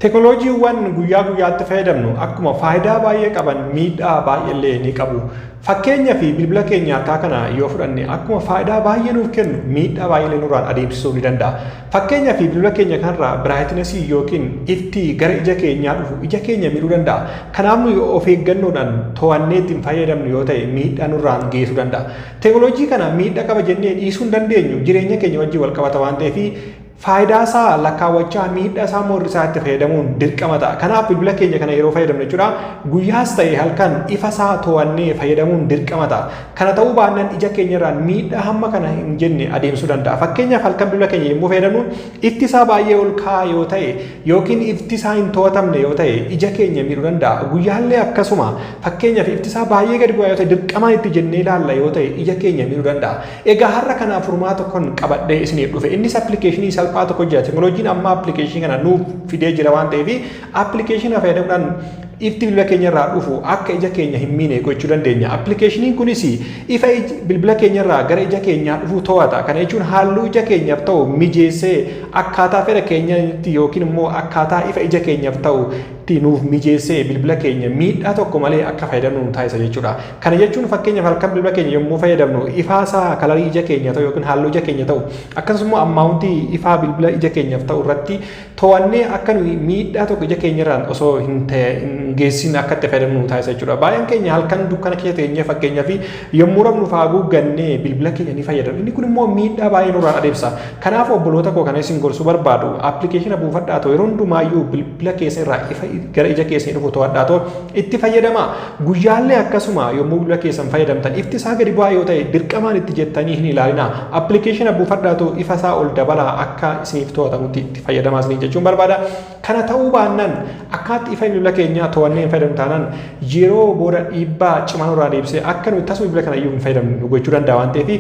Teknolojiiwwan guyyaa guyyaatti fayyadamnu akkuma faayidaa baay'ee qaban miidhaa baay'eellee ni qabu. Fakkeenya fi bilbila keenya harkaa kana yoo fudhanne akkuma faayidaa baay'ee nuuf kennu miidhaa baay'eellee nurraan adeemsisuu ni danda'a. Fakkeenya fi bilbila keenya kanarraa biraayitinasii yookiin ifti gara ija keenyaa dhufu ija keenya miidhuu danda'a. Kanaaf nuyi of eeggannoodhaan to'annee ittiin fayyadamnu yoo ta'e miidhaa nurraan geessuu danda'a. Teknolojii kana miidhaa qaba jennee dhiisuu hin dandeenyu jireenya keenya wajjin wal qabata waan ta'eef faayidaa isaa lakkaawwachaa miidhaa isaa immoo hir'isaa itti fayyadamuun dirqama ta'a. Kanaaf bilbila keenya kana yeroo fayyadamnu jechuudha guyyaas ta'e halkan ifa isaa to'annee fayyadamuun dirqama ta'a. Kana ta'uu baannaan ija keenya irraan miidhaa hamma kana hin jenne adeemsuu danda'a. Fakkeenyaaf halkan bilbila keenya yommuu fayyadamnu ifti isaa baay'ee ol ka'aa yoo ta'e yookiin ifti isaa hin to'atamne yoo ta'e ija keenya miidhuu danda'a. Guyyaallee akkasuma fakkeenyaaf ifti isaa baay'ee gadi bu'aa yoo ta'e dirqamaan itti jennee ilaalla yoo ta'e ija keenya miidhuu danda'a. Egaa har'a kanaaf furmaata tokkon qabadhee isiniif dhufe. Innis appilikeeshinii salphaa tokko jira. Teknolojiin ammaa appilikeeshinii kana nuuf fidee jira waan ta'eef appilikeeshinii fayyadamuudhaan ifti bilbila keenya irraa dhufu akka ija keenya hin miine gochuu dandeenya. Appilikeeshiniin kunis ifa bilbila keenya irraa gara ija keenyaa dhufu to'ata. Kana jechuun halluu ija keenyaaf ta'u mijeessee akkaataa fedha keenyatti yookiin immoo akkaataa ifa ija keenyaaf ta'utti nuuf mijeessee bilbila keenya miidhaa tokko malee akka fayyadamnu nu taasisa jechuudha. Kana jechuun fakkeenyaaf halkan bilbila keenya yommuu fayyadamnu ifaa isaa kalarii ija keenya ta'u yookiin halluu ija keenya ta'u akkasumas immoo ammaawuntii ifaa bilbila ija keenyaaf ta'u irratti to'annee akka nuyi miidhaa tokko ija keenya irraan osoo hin geessiin akka itti fayyadamnu nu taasisa jechuudha. Baay'een keenya halkan dukkana keessa teenyee fakkeenyaaf yommuu rafnu faaguu gannee bilbila keenya ni fayyadamna. Inni kun immoo miidhaa baay'ee nurraan adeemsa. Kanaaf obboloota koo kana isin gorsuu barbaadu appilikeeshina buufadhaa ta'u yeroo hundumaayyuu bilbila keessa irraa ifa gara ija keessanii dhufu to'adhaa ta'u itti fayyadamaa. Guyyaallee akkasuma yommuu bilbila keessan fayyadamtan ifti isaa gadi bu'aa yoo ta'e dirqamaan itti jettanii hin ilaalinaa. Appilikeeshina buufadhaatu ifa isaa ol dabalaa akka isiniif to'atamutti itti fayyadamaa isiniin jechuun barbaada. Kana ta'uu baannaan akkaatti ifa bilbila keenyaa to'annee hin fayyadamnu taanaan yeroo booda dhiibbaa cimaa nurraa deebisee akka nuti tasuma bilbila kana iyyuu hin fayyadamnu nu gochuu danda'a waan ta'eef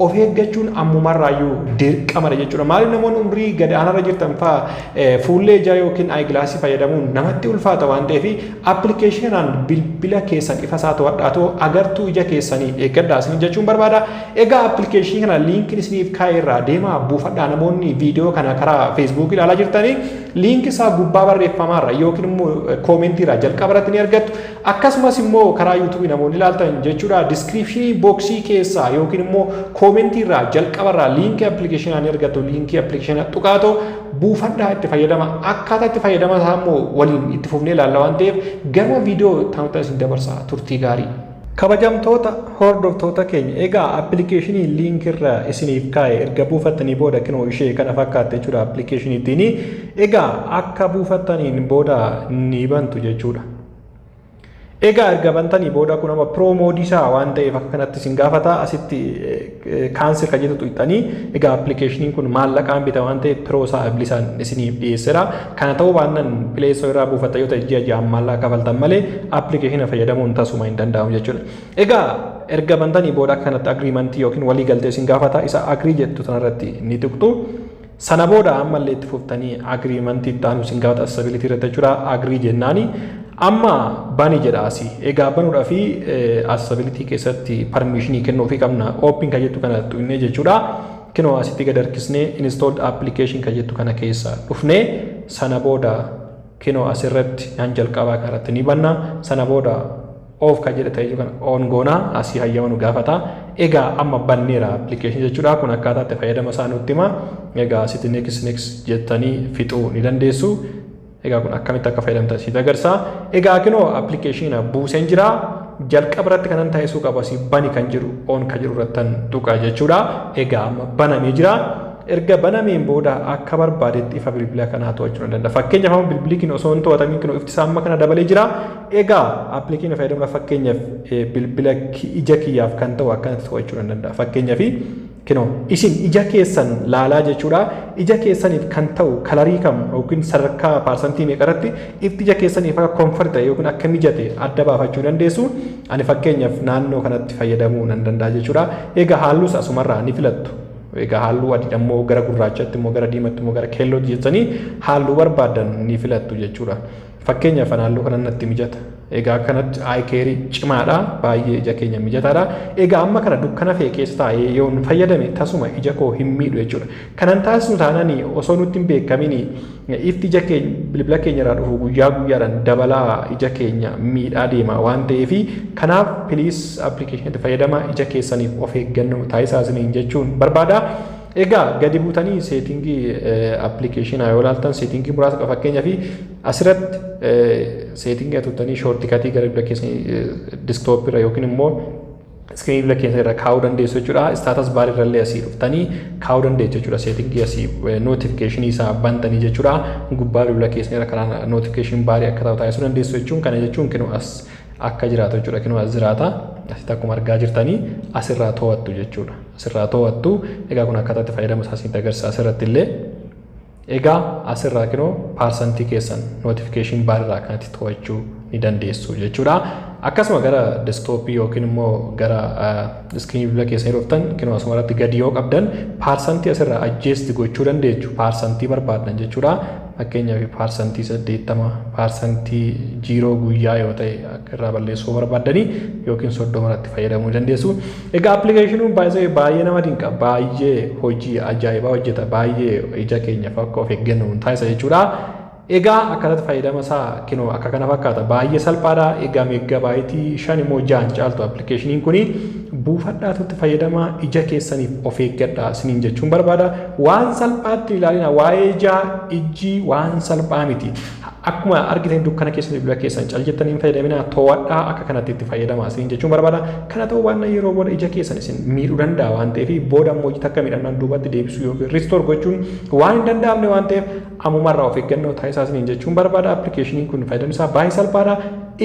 of eeggachuun ammumarraa iyyuu dirqamadha jechuudha. Maaliif namoonni umrii gad aanaarra jirtan fa'aa fuullee ijaa yookiin ayigilaasii fayyadamuun namatti ulfaata waan ta'eef Appilikeeshiinaan bilbila keessan ifa isaa to'adhaa too agartuu ija keessanii eeggadhaa isiniin jechuun barbaada. Egaa appilikeeshinii kana liinkiin isiniif kaa'e irraa deemaa buufadhaa namoonni viidiyoo kana karaa feesbuukii ilaalaa jirtanii liinkii isaa gubbaa barreeffamaa irra yookiin immoo koomentii irraa jalqaba irratti ni argattu. Akkasumas immoo karaa yuutuubii namoonni ilaaltan jechuudha diskiriipshinii booksii keessaa yookiin immoo koomentii irraa jalqaba irraa liinkii appilikeeshinaa ni argattu liinkii appilikeeshinaa tuqaatoo buufadhaa itti fayyadama akkaataa itti fayyadama isaa immoo waliin itti fufnee ilaalla waan ta'eef garuma viidiyoo taa'uutti isin dabarsaa turtii gaarii. Kabajamtoota hordoftoota keenya egaa appilikeeshinii liinkii irra isiniif kaa'e erga buufattanii booda kinoo ishee kana fakkaatte jechuudha appilikeeshinii ittiin egaa akka buufattaniin booda ni bantu jechuudha. Egaa erga bantanii booda kun amma pro mode isaa waan ta'eef akka kanatti isin gaafata asitti cancel kan jettu tuqxanii egaa appilikeeshiniin kun maallaqaan bita waan ta'eef pro isaa bilisaan isiniif dhiyeessera kana ta'uu baannan play store irraa buufata yoo ta'e ji'a ji'aan maallaqa kafaltan malee appilikeeshina fayyadamuun tasuma hin danda'amu jechuudha. Egaa erga bantanii booda akka kanatti agreementii yookiin walii galtee isin gaafata isa agree jettu tanarratti ni tuqxu. Sana booda ammallee itti fuftanii agreement itti aanu isin gaafata accessibility irratti jechuudha agree jennaani amma bani jedha asi egaa banuudha fi accessibility keessatti permission kennuu fi qabna open kan jettu kana tuqnee jechuudha kinoo asitti gad harkisnee installed application kan jettu kana keessa dhufnee sana booda kinoo asirratti naan jalqabaa kanarratti ni banna sana booda Off kan jedhe ta'e jiru kana on goona asii hayyama nu gaafata. Egaa amma banneera application jechuudha. Kun akkaataa itti fayyadama isaa nutti hima. Egaa asitti next next jettanii fixuu ni dandeessu. Egaa kun akkamitti akka fayyadamtan siif agarsiisa. Egaa kunoo application buuseen jira. Jalqaba irratti kanan taasisuu qabu asii bani kan jedhu on kan jedhu irratti tuqa jechuudha. Egaa amma banamee jira. erga banameen booda akka barbaadetti ifa bilbila kanaa to'achuu ni danda'a. Fakkeenyaaf amma bilbilli kun osoo hin to'atamin kun ifti isaa amma kana dabalee jira. Egaa appilikeenya fayyadamna fakkeenyaaf bilbila ija kiyyaaf kan ta'u akkanatti to'achuu nan danda'a. Fakkeenyaaf kinoo isin ija keessan laalaa jechuudha. Ija keessaniif kan ta'u kalarii kam yookiin sadarkaa paarsantii meeqa irratti ifti ija keessaniif akka konfort ta'e yookiin akka mijate adda baafachuu dandeessu. Ani fakkeenyaaf naannoo kanatti fayyadamuu nan danda'a jechuudha. Egaa halluus asumarraa ni filattu. Egaa halluu adiidha immoo gara gurraachatti immoo gara diimatti immoo gara keellootti jettanii halluu barbaadan ni filattu jechuudha. Fakkeenyaaf an halluu kanan natti mijata. Egaa akkanatti eye care cimaadha. Baay'ee ija keenya mijataadha. Egaa amma kana dukkana fe'e keessa taa'ee yoon fayyadame tasuma ija koo hin miidhu jechuudha. Kanan taasisu taanaan osoo nutti hin beekamin ifti ija keenya bilbila keenya irraa dhufu guyyaa guyyaadhaan dabalaa ija keenya miidhaa deema waan ta'eef kanaaf piliis appilikeeshinatti fayyadamaa ija keessaniif of eeggannoo taasisaa isiniin jechuun barbaada. Egaa gadi buutanii seetingii appilikeeshinaa yoo ilaaltan seetingii muraasa qaba fakkeenyaaf asirratti seetingii tuttanii shoortikatii gara bira keessanii disktoopii irra yookiin immoo iskiriinii bira keessa irra kaa'uu dandeessu jechuudha. Istaatas baar irra illee asii dhuftanii kaa'uu dandeessu jechuudha. Seetingii asii nootifikeeshinii isaa bantanii jechuudha. Gubbaa bilbila keessanii irra karaa nootifikeeshinii baarii akka ta'u taasisuu dandeessu jechuun kana jechuun kinoo as akka jiraatu jechuudha. Kinoo as jiraata. Asitti akkuma argaa jirtanii asirraa to'attu jechuudha. asirraa to'attu. Egaa kun akkaataa itti fayyadama isaa isinitti agarsiisa asirratti illee. Egaa asirraa kinoo paarsantii keessan notification baar irraa akkanatti to'achuu ni dandeessu jechuudha. Akkasuma gara deskitooppii yookiin immoo gara iskiriinii bilbila keessanii dhuftan kinoo asuma irratti gadi yoo qabdan paarsantii asirraa ajjeesti gochuu dandeessu paarsantii barbaaddan jechuudha. Fakkeenyaaf paarsantii saddeettama paarsantii jiiroo guyyaa yoo ta'e irraa balleessuu barbaaddanii yookiin soddoma irratti fayyadamuu dandeessu. Egaa application by the way baay'ee nama dinqa baay'ee hojii ajaa'ibaa hojjeta baay'ee ija keenyaaf akka of eeggannu nu taasisa jechuudha. Egaa akkanatti fayyadama isaa kinoo akka kana fakkaata baay'ee salphaadha. Egaa meeggabaayitii shan immoo jaan caaltu appilikeeshiniin kuni buufadhaa tutti fayyadama ija keessaniif of eeggadha isiniin jechuun barbaada. Waan salphaatti ilaalina waa'ee ijaa ijji waan salphaa miti. Akkuma argitan dukkana keessa bilbila keessan cal jettanii hin fayyadaminaa to'adhaa akka kanatti itti fayyadamaa isiniin jechuun barbaada. Kana ta'uu baannaan yeroo booda ija keessan isin miidhuu danda'a waan ta'eef booda immoo ija takka miidhamnaan duubatti deebisuu yookiin ristoor gochuun waan hin danda'amne waan ta'eef ammumarraa of eeggannoo taasisaa isiniin jechuun barbaada. Appilikeeshiniin kun fayyadamni isaa baay'ee salphaadha.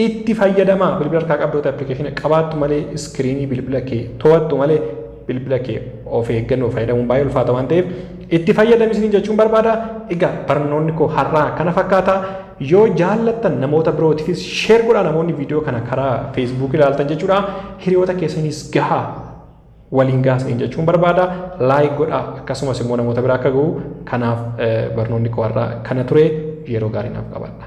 Itti fayyadamaa bilbila harkaa qabdoota appilikeeshina qabaattu malee iskiriinii bilbila kee to'attu malee bilbila kee of eeggannoo fayyadamuun baay'ee ulfaata waan ta'eef itti fayyadami isiniin jechuun barbaada. Egaa barnoonni koo har'aa kana fakkaata. Yoo jaallattan namoota birootiifis sheer godhaa namoonni viidiyoo kana karaa feesbuukii ilaaltan jechuudha. Hiriyoota keessanis gahaa waliin gahaa isiniin jechuun barbaada. Laayik godhaa akkasumas immoo namoota biraa akka gahu kanaaf barnoonni koo har'aa kana ture yeroo gaarii naaf qabaadha.